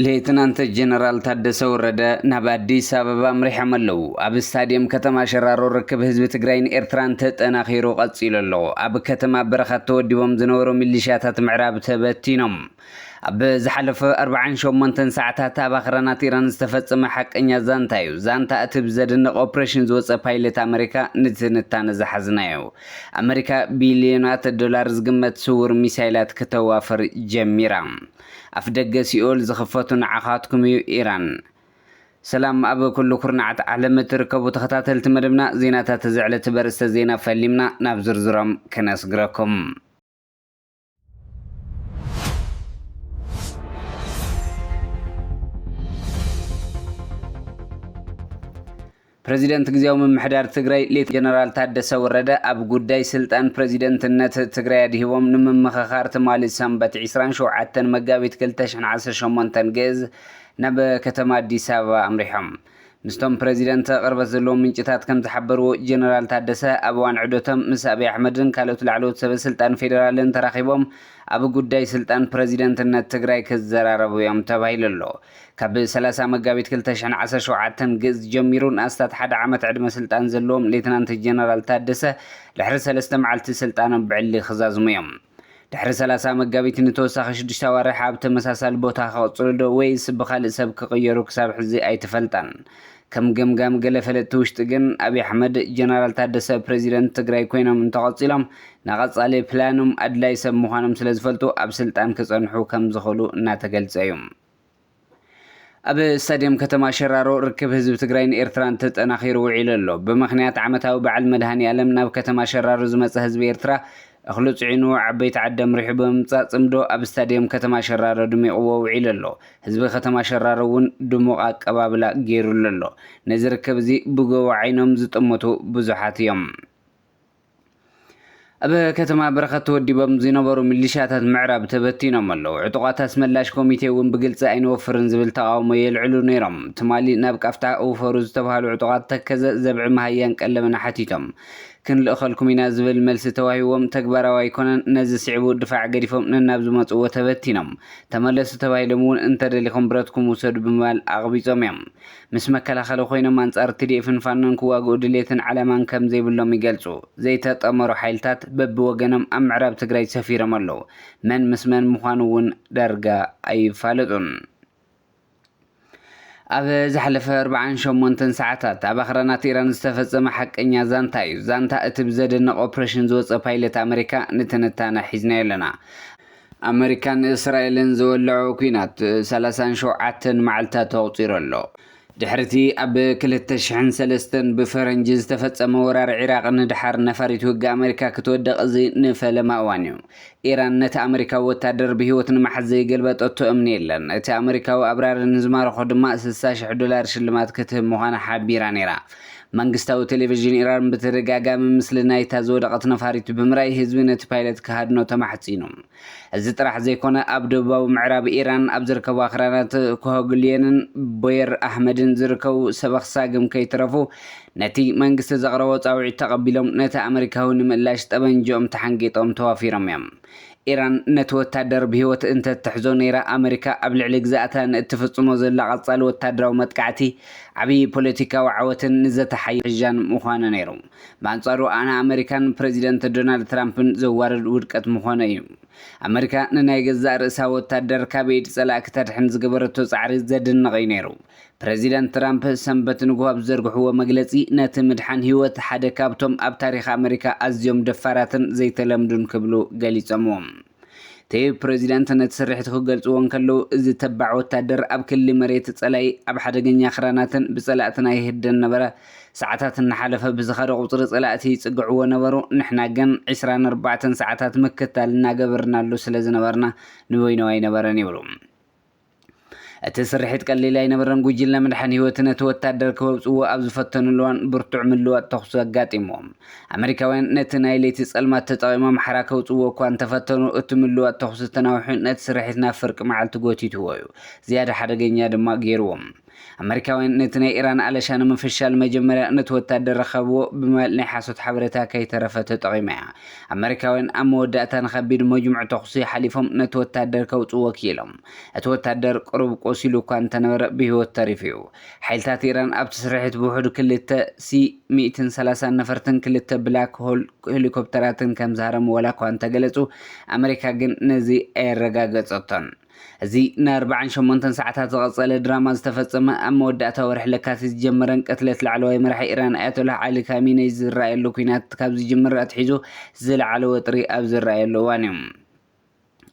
ሌትናንት ጀነራል ታደሰ ወረደ ናብ ኣዲስ ኣበባ ኣምሪሖም ኣለዉ ኣብ ስታድየም ከተማ ሸራሮ ርክብ ህዝቢ ትግራይን ኤርትራን ተጠናኺሩ ቀፂሉ ኣሎ ኣብ ከተማ በረኻት ተወዲቦም ዝነበሩ ሚሊሻታት ምዕራብ ተበቲኖም ኣብ ዝሓለፈ ኣርብዓን ሸሞንተን ሰዓታት ኣብ ኣኽራናት ኢራን ዝተፈጸመ ሓቀኛ ዛንታ እዩ። ዛንታ እቲ ብዘደንቕ ኦፕሬሽን ዝወጸ ፓይለት ኣመሪካ ንትንታነ ዝሓዝናዮ። ኣመሪካ ቢልዮናት ዶላር ዝግመት ስውር ሚሳይላት ክተዋፍር ጀሚራ። ኣፍደገ ሲኦል ዝኽፈቱ ንዓኻትኩም እዩ ኢራን። ሰላም ኣብ ኩሉ ኩርናዓት ዓለም እትርከቡ ተኸታተልቲ መደብና ዜናታት እዚ ዕለት በርእስተ ዜና ፈሊምና ናብ ዝርዝሮም ክነስግረኩም። ፕሬዚደንት ግዜያዊ ምምሕዳር ትግራይ ሌት ጀነራል ታደሰ ወረደ ኣብ ጉዳይ ስልጣን ፕሬዚደንትነት ትግራይ ኣድሂቦም ንምምኽኻር ትማሊ ሰንበት 27 መጋቢት 2018 ግእዝ ናብ ከተማ ኣዲስ ኣበባ ኣምሪሖም። ምስቶም ፕረዚደንተ ቅርበት ዘለዎም ምንጭታት ከም ዝሓበርዎ ጀነራል ታደሰ ኣብ እዋን ዑደቶም ምስ ኣብይ ኣሕመድን ካልኦት ላዕለዎት ሰበ ስልጣን ፌደራልን ተራኺቦም ኣብ ጉዳይ ስልጣን ፕረዚደንትነት ትግራይ ክዘራረቡ እዮም ተባሂሉ ኣሎ። ካብ ሰላሳ መጋቢት ክልተ ሽሕን ዓሰርተ ሸውዓተን ግእዝ ጀሚሩ ንኣስታት ሓደ ዓመት ዕድመ ስልጣን ዘለዎም ሌተናንት ጀነራል ታደሰ ድሕሪ ሰለስተ መዓልቲ ስልጣኖም ብዕሊ ክዛዝሙ እዮም። ድሕሪ ሰላሳ መጋቢት ንተወሳኺ ሽዱሽተ ኣዋርሕ ኣብ ተመሳሳሊ ቦታ ክቕጽሉ ዶ ወይስ ብኻልእ ሰብ ክቕየሩ ክሳብ ሕዚ ኣይተፈልጠን። ከም ገምጋም ገለ ፈለጥቲ ውሽጢ ግን ኣብይ ኣሕመድ ጀነራል ታደሰ ፕረዚደንት ትግራይ ኮይኖም እንተቐጺሎም ንቐጻሊ ፕላኖም ኣድላይ ሰብ ምዃኖም ስለዝፈልጡ ኣብ ስልጣን ክጸንሑ ከምዝኽእሉ እናተገልጸ እዩ። ኣብ ስታድየም ከተማ ሸራሮ ርክብ ህዝቢ ትግራይን ኤርትራን ተጠናኺሩ ውዒሉ ኣሎ። ብምኽንያት ዓመታዊ በዓል መድሃኒኣለም ናብ ከተማ ሸራሮ ዝመጸ ህዝቢ ኤርትራ እኽሉ ጽዒኑ ዓበይቲ ዓዲ ኣምሪሑ ብምምጻእ ጽምዶ ኣብ ስታድየም ከተማ ሸራሮ ድሚቕዎ ውዒሉ ኣሎ። ህዝቢ ከተማ ሸራሮ እውን ድሙቕ ኣቀባብላ ገይሩሉ ኣሎ። ነዚ ርክብ እዚ ብጎቦ ዓይኖም ዝጥምቱ ብዙሓት እዮም። ኣብ ከተማ በረኸት ተወዲቦም ዝነበሩ ሚሊሻታት ምዕራብ ተበቲኖም ኣለዉ። ዕጡቓት ኣስመላሽ ኮሚቴ እውን ብግልፂ ኣይንወፍርን ዝብል ተቓውሞ የልዕሉ ነይሮም። ትማሊ ናብ ቃፍታ እውፈሩ ዝተብሃሉ ዕጡቓት ተከዘ፣ ዘብዒ፣ መሃያን ቀለምን ሓቲቶም ክንልእኸልኩም ኢና ዝብል መልሲ ተዋሂብዎም ተግባራዊ ኣይኮነን። ነዚ ስዒቡ ድፋዕ ገዲፎም ነናብ ዝመፅእዎ ተበቲኖም። ተመለሱ ተባሂሎም እውን እንተደሊኹም ብረትኩም ውሰዱ ብምባል ኣቕቢፆም እዮም። ምስ መከላኸሊ ኮይኖም ኣንጻር ትዲኤፍን ፋኖን ክዋግኡ ድሌትን ዓላማን ከም ዘይብሎም ይገልጹ። ዘይተጠመሩ ሓይልታት በብወገኖም ኣብ ምዕራብ ትግራይ ሰፊሮም ኣለዉ። መን ምስ መን ምዃኑ እውን ዳርጋ ኣይፋለጡን። ኣብ ዝሓለፈ ኣርብዓን ሸሞንተን ሰዓታት፣ ኣብ ኣኽራናት ኢራን ዝተፈጸመ ሓቀኛ ዛንታ እዩ። ዛንታ እቲ ብዘደንቕ ኦፕረሽን ዝወጸ ፓይለት ኣመሪካ ንትንታነ ሒዝናዮ ኣለና። ኣመሪካን እስራኤልን ዝወለዖ ኲናት ሰላሳን ሸውዓተን መዓልትታት ኣቑጺሩ ኣሎ። ድሕሪ'ቲ ኣብ ክልተ ሽሕን ሰለስተን ብፈረንጂ ዝተፈጸመ ወራር ዒራቕ ንደሓር ነፋሪት ውግእ ኣመሪካ ክትወድቕ እዚ ንፈለማ እዋን'ዩ። ኢራን ነቲ ኣመሪካዊ ወተሃደር ብህይወት ንምሓዝ ዘይገልበጠቶ እምኒ የለን፣ እቲ ኣመሪካዊ ኣብራሪ ንዝማረኾ ድማ ስሳ ሽሕ ዶላር ሽልማት ክትህብ ምዃና ሓቢራ ነይራ። መንግስታዊ ቴሌቪዥን ኢራን ብተደጋጋሚ ምስሊ ናይታ ዝወደቐት ነፋሪት ብምርኣይ ህዝቢ ነቲ ፓይለት ክሃድኖ ተማሕጺኑ። እዚ ጥራሕ ዘይኮነ ኣብ ደቡባዊ ምዕራብ ኢራን ኣብ ዝርከቡ ኣኽራናት ኮሆግልየንን ቦየር ኣህመድን ዝርከቡ ሰበኽ ሳግም ከይትረፉ ነቲ መንግስቲ ዘቕረቦ ጻውዒት ተቐቢሎም ነቲ ኣመሪካዊ ንምእላሽ ጠበንጅኦም ተሓንጊጦም ተዋፊሮም እዮም። ኢራን ነቲ ወታደር ብህይወት እንተትሕዞ ነይራ፣ ኣመሪካ ኣብ ልዕሊ ግዝኣታ ንእትፍጽሞ ዘላ ቀጻሊ ወታደራዊ መጥቃዕቲ ዓብዪ ፖለቲካዊ ዓወትን ንዘተ ሓይልታን ምዀነ ነይሩ። ብኣንጻሩ ኣነ ኣመሪካን ፕረዚደንት ዶናልድ ትራምፕን ዘዋርድ ውድቀት ምዀነ እዩ። ኣመሪካ ንናይ ገዛእ ርእሳ ወታደር ካብ ኢድ ጸላእ ክተድሕን ዝገበረቶ ጻዕሪ ዘድንቕ እዩ ነይሩ። ፕረዚደንት ትራምፕ ሰንበት ንግሆ ኣብ ዝዘርግሕዎ መግለጺ፣ ነቲ ምድሓን ህይወት ሓደ ካብቶም ኣብ ታሪኽ ኣመሪካ ኣዝዮም ደፋራትን ዘይተለምዱን ክብሉ ገሊጾምዎ። እቲ ፕረዚደንት ነቲ ስርሒት ክገልጽዎ እንከለዉ፣ እዚ ተባዕ ወታደር ኣብ ክሊ መሬት ጸላኢ፣ ኣብ ሓደገኛ ክራናትን ብጸላእትና ይህደን ነበረ። ሰዓታት እናሓለፈ ብዝኸደ ቁጽሪ ጸላእቲ ይጽግዕዎ ነበሩ፣ ንሕና ግን ዕስራን ኣርባዕተን ሰዓታት ምክትታል እናገበርናሉ ስለዝነበርና ንበይኑ ኣይነበረን ይብሉ። እቲ ስርሒት ቀሊል ኣይነበረን፣ ጉጅለ ምድሓን ህይወት ነቲ ወታደር ከወጽእዎ ኣብ ዝፈተኑሉ እዋን ብርቱዕ ምልዋጥ ተኹሲ ኣጋጢምዎም። ኣመሪካውያን ነቲ ናይ ለይቲ ጸልማት ተጠቒሞም ሓራ ከውጽእዎ እኳ እንተፈተኑ፣ እቲ ምልዋጥ ተኹሲ ተናዊሑ ነቲ ስርሒት ናብ ፍርቂ መዓልቲ ጎቲትዎ'ዩ፣ ዝያዳ ሓደገኛ ድማ ገይርዎም። ኣመሪካውያን ነቲ ናይ ኢራን ኣለሻ ንምፍሻል መጀመርያ ነቲ ወታደር ረኸብዎ ብምባል ናይ ሓሶት ሓበሬታ ከይተረፈ ተጠቒማ እያ። ኣመሪካውያን ኣብ መወዳእታ ንከቢድ መጅሙዕ ተኹሲ ሓሊፎም ነቲ ወታደር ከውጽእዎ ክኢሎም። እቲ ወታደር ቅሩብ ቆሲሉ እኳ እንተነበረ ብህይወት ተሪፉ እዩ። ሓይልታት ኢራን ኣብቲ ስርሒት ብውሕዱ ክልተ ሲ ሚእትን ሰላሳን ነፈርትን ክልተ ብላክ ሆል ሄሊኮፕተራትን ከምዝሃረሙ ዋላኳ እንተገለጹ ኣመሪካ ግን ነዚ ኣየረጋገጸቶን። እዚ ንኣርባዓን ሸሞንተን ሰዓታት ዝቐጸለ ድራማ ዝተፈጸመ፣ ኣብ መወዳእታ ወርሒ ለካቲት ዝጀመረን ቅትለት ላዕለዋይ መራሒ ኢራን ኣያቶላህ ዓሊ ካሚነይ ዝረኣየሉ ኲናት ካብ ዝጅምር ኣትሒዙ ዝለዓለ ወጥሪ ኣብ ዝረኣየሉ እዋን'ዩ።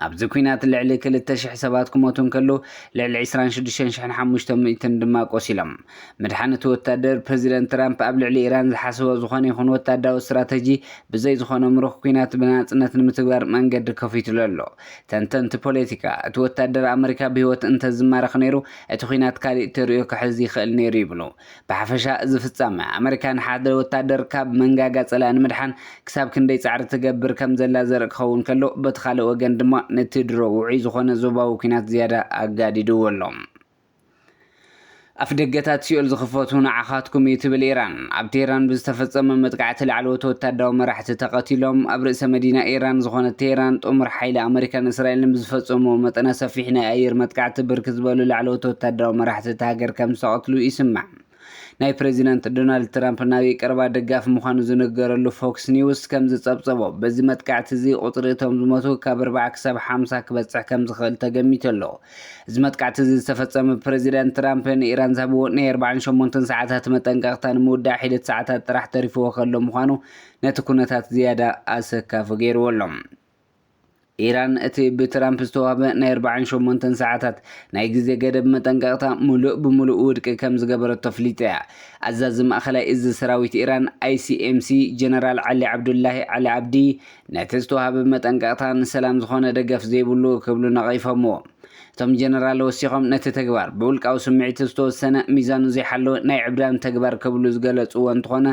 ኣብዚ ኲናት ልዕሊ ክልተ ሽሕ ሰባት ክሞቱ እንከለዉ፣ ልዕሊ ዕስራን ሽዱሽተን ሽሕን ሓሙሽተ ሚእትን ድማ ቆሲሎም። ምድሓን እቲ ወታደር፣ ፕረዚደንት ትራምፕ ኣብ ልዕሊ ኢራን ዝሓሰቦ ዝኾነ ይኹን ወታደራዊ ስትራተጂ ብዘይ ዝኾነ ምሩኽ ኲናት ብናጽነት ንምትግባር መንገዲ ከፊቱሉ ኣሎ። ተንተንቲ ፖለቲካ፣ እቲ ወታደር ኣመሪካ ብህይወት እንተ ዝማረኽ ነይሩ፣ እቲ ኲናት ካልእ ተርእዮ ክሕዝ ይኽእል ነይሩ ይብሉ። ብሓፈሻ እዚ ፍጻመ፣ ኣመሪካ ንሓደ ወታደር ካብ መንጋጋ ጸላኢ ንምድሓን ክሳብ ክንደይ ጻዕሪ ትገብር ከም ዘላ ዘርኢ ክኸውን ከሎ፣ በቲ ካልእ ወገን ድማ ነቲ ድሮ ውዑይ ዝኾነ ዞባዊ ኲናት ዝያዳ ኣጋዲድዎ ኣሎ። ኣፍደገታት ሲኦል ዝኽፈቱ ንዓኻትኩም እዩ ትብል ኢራን። ኣብ ቴህራን ብዝተፈጸመ መጥቃዕቲ ላዕለዎት ወታደራዊ መራሕቲ ተቐቲሎም። ኣብ ርእሰ መዲና ኢራን ዝኾነት ቴህራን ጥሙር ሓይሊ ኣመሪካን እስራኤልን ብዝፈጸምዎ መጠነ ሰፊሕ ናይ ኣየር መጥቃዕቲ ብርክት ዝበሉ ላዕለዎት ወታደራዊ መራሕቲ እታ ሃገር ከምዝተቐትሉ ይስማዕ። ናይ ፕረዚደንት ዶናልድ ትራምፕ ናይ ቀረባ ደጋፊ ምዃኑ ዝንገረሉ ፎክስ ኒውስ ከም ዝጸብጸቦ፣ በዚ መጥቃዕቲ እዚ ቁጽሪ እቶም ዝሞቱ ካብ ኣርባዓ ክሳብ ሓምሳ ክበጽሕ ከም ዝኽእል ተገሚቱ ኣሎ። እዚ መጥቃዕቲ እዚ ዝተፈጸመ ብፕረዚደንት ትራምፕ ንኢራን ዝሃብዎ ናይ ኣርባዓን ሸሞንተን ሰዓታት መጠንቀቕታ ንምውዳእ ሒደት ሰዓታት ጥራሕ ተሪፍዎ ከሎ ምዃኑ ነቲ ኩነታት ዝያዳ ኣሰካፊ ገይርዎ ኣሎ። ኢራን እቲ ብትራምፕ ዝተዋህበ ናይ ኣርባዓን ሸሞንተን ሰዓታት ናይ ግዜ ገደብ መጠንቀቕታ ምሉእ ብምሉእ ውድቂ ከም ዝገበረቶ ኣፍሊጣ እያ። ኣዛዚ ማእከላይ እዝ ሰራዊት ኢራን፣ ICMC፣ ጀነራል ዓሊ ዓብዱላሂ ዓሊ ዓብዲ፣ ነቲ ዝተዋህበ መጠንቀቕታ ንሰላም ዝዀነ ደገፍ ዘይብሉ ክብሉ ነቒፎምዎ። እቶም ጀነራል ወሲኾም ነቲ ተግባር፣ ብውልቃዊ ስምዒት ዝተወሰነ፣ ሚዛኑ ዘይሓለወ ናይ ዕብዳን ተግባር ክብሉ ዝገለጽዎ እንተዀነ፣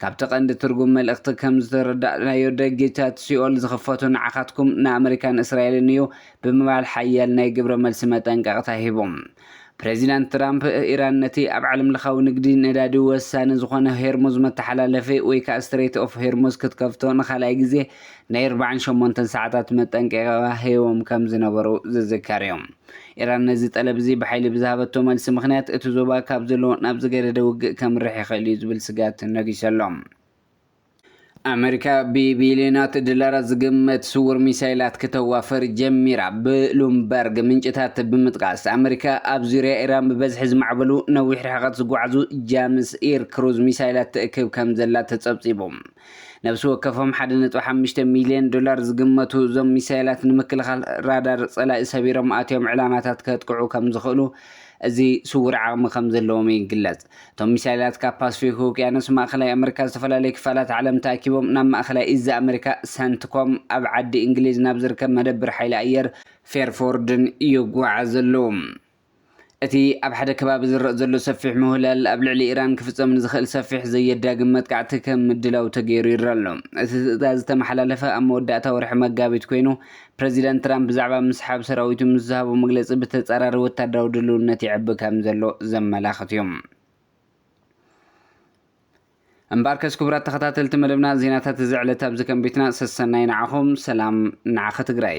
ካብቲ ቀንዲ ትርጉም መልእኽቲ ከም ዝተረዳእናዮ ደጊታት ሲኦል ዝኽፈቱ ንዓኻትኩም፣ ንኣመሪካን እስራኤልን እዩ ብምባል ሓያል ናይ ግብረ መልሲ መጠንቀቕታ ሂቡ። ፕሬዚዳንት ትራምፕ፣ ኢራን ነቲ ኣብ ዓለምለኻዊ ንግዲ ነዳዲ ወሳኒ ዝኾነ ሄርሙዝ መተሓላለፊ ወይ ከዓ ስትሬት ኦፍ ሄርሙዝ ክትከፍቶ ንኻልኣይ ግዜ ናይ ኣርብዓን ሸሞንተን ሰዓታት መጠንቀቂቓ ሂቦም ከም ዝነበሩ ዝዝከር እዩ። ኢራን ነዚ ጠለብ እዚ ብሓይሊ ብዝሃበቶ መልሲ ምኽንያት እቲ ዞባ ካብ ዘለዎ ናብ ዝገደደ ውግእ ከምርሕ ይኽእል እዩ ዝብል ስግኣት ነጊሱ ኣሎ። ኣመሪካ ብቢልዮናት ዶላራት ዝግመት ስውር ሚሳይላት ክተዋፍር ጀሚራ። ብሉምበርግ ምንጭታት ብምጥቃስ፣ ኣመሪካ ኣብ ዙርያ ኢራን ብበዝሒ ዝማዕበሉ ነዊሕ ርሕቐት ዝጓዓዙ ጃምስ ኢር ክሩዝ ሚሳይላት ትእክብ ከምዘላ ተጸብጺቡ። ነብሲ ወከፎም ሓደ ነጥቢ ሓሙሽተ ሚልዮን ዶላር ዝግመቱ እዞም ሚሳይላት ንምክልኻል ራዳር ጸላኢ ሰቢሮም ኣትዮም ዕላማታት ከጥቅዑ ከም ዝኽእሉ እዚ ስውር ዓቕሚ ከም ዘለዎም ይግለጽ። እቶም ሚሳይላት ካብ ፓስፊክ ውቅያኖስ ማእከላይ ኣመሪካ ዝተፈላለዩ ክፋላት ዓለም ተኣኪቦም ናብ ማእከላይ እዝ ኣመሪካ ሰንትኮም ኣብ ዓዲ እንግሊዝ ናብ ዝርከብ መደብር ሓይሊ ኣየር ፌርፎርድን ይጓዓዙ ኣለዉ። እቲ ኣብ ሓደ ከባቢ ዝረእ ዘሎ ሰፊሕ ምውህላል ኣብ ልዕሊ ኢራን ክፍጸም ንዝኽእል ሰፊሕ ዘየዳግም መጥቃዕቲ ከም ምድላው ተገይሩ ይረኣ ኣሎ። እቲ ትእዛዝ ዝተመሓላለፈ ኣብ መወዳእታ ወርሒ መጋቢት ኰይኑ፣ ፕረዚደንት ትራምፕ ብዛዕባ ምስሓብ ሰራዊቱ ምስ ዝሃቦ መግለጺ ብተጻራሪ ወተሃደራዊ ድልውነት ይዕቢ ከም ዘሎ ዘመላኽት እዩ። እምበኣርከስ ክቡራት ተኸታተልቲ መደብና ዜናታት እዚ ዕለት ኣብዚ ከም ቤትና ሰሰናዩ ንዓኹም ሰላም ንዓኺ ትግራይ።